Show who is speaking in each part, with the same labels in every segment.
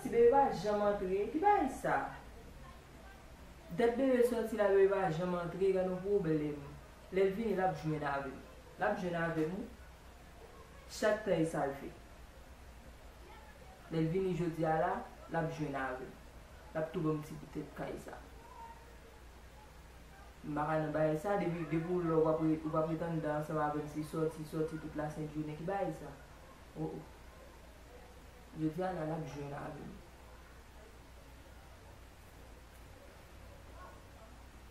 Speaker 1: Ti bebe pa janm antre ki bagay sa. Dat bebe soti la bebe pa janm antre gad yon pwoblèm lèl vini lap jwenn avèm lap jwenn avèm wi Chak tan e sal fè. Lèl vini jodia la lap jwenn avèm. Lap tou banm ti poutèt kay sa. M paka nan bagay sa depi depi ou la ou pa ret anndan ansanm avèm se sòti sòti tout la sent jounen ki bagay sa oh oh. Jodia la lap jwenn avèm.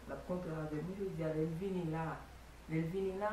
Speaker 1: Lap kontan avèm wi jodia lèl vini la lèl vini la.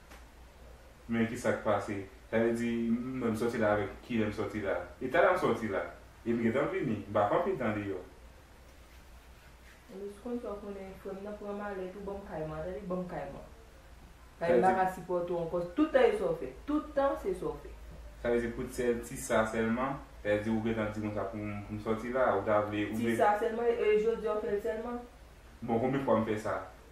Speaker 2: Men kisak pase sa vle di mwen m sòti la avèk kilè m sòti la e talè m sòti la e m gentan vini m pa fè anpil tan deyò.
Speaker 1: Louis konn fè w konnen frè m nan pran malèt ou ban m kay mwen tande ban m kay mwen kay m pa ka sipòte w ankò tout tan e sa w fè tout tan se sa w fè. Sa vle di pou
Speaker 2: sèl ti sa sèlman sa vle di ou gentan di konsa pou m sòti la ou ta vle ou vle. Ti sa sèlman
Speaker 1: e jodi a w fè l sèlman. Bon konbyen fwa
Speaker 2: m fè sa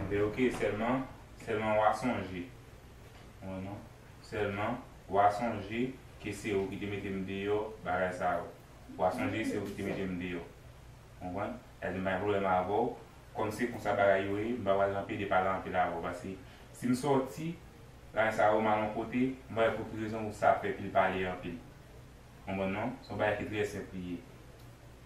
Speaker 2: Anbè ok sèlman sèlman wa sonje Mwen non sèlman wa sonje ke se ou ki te mete m deyò bagay sa yo wa sonje se ou ki te mete m deyò konprann sa vle di m pa gen pwoblèm avè w kòm se konsa bagay yo ye m pa pral nan pede pale anpil avè w paske si m sòti bagay sa yo mal yon kote m pa wè pou ki rezon sa fè pil pale anpil konprann non se yon bagay ki trè senp li ye.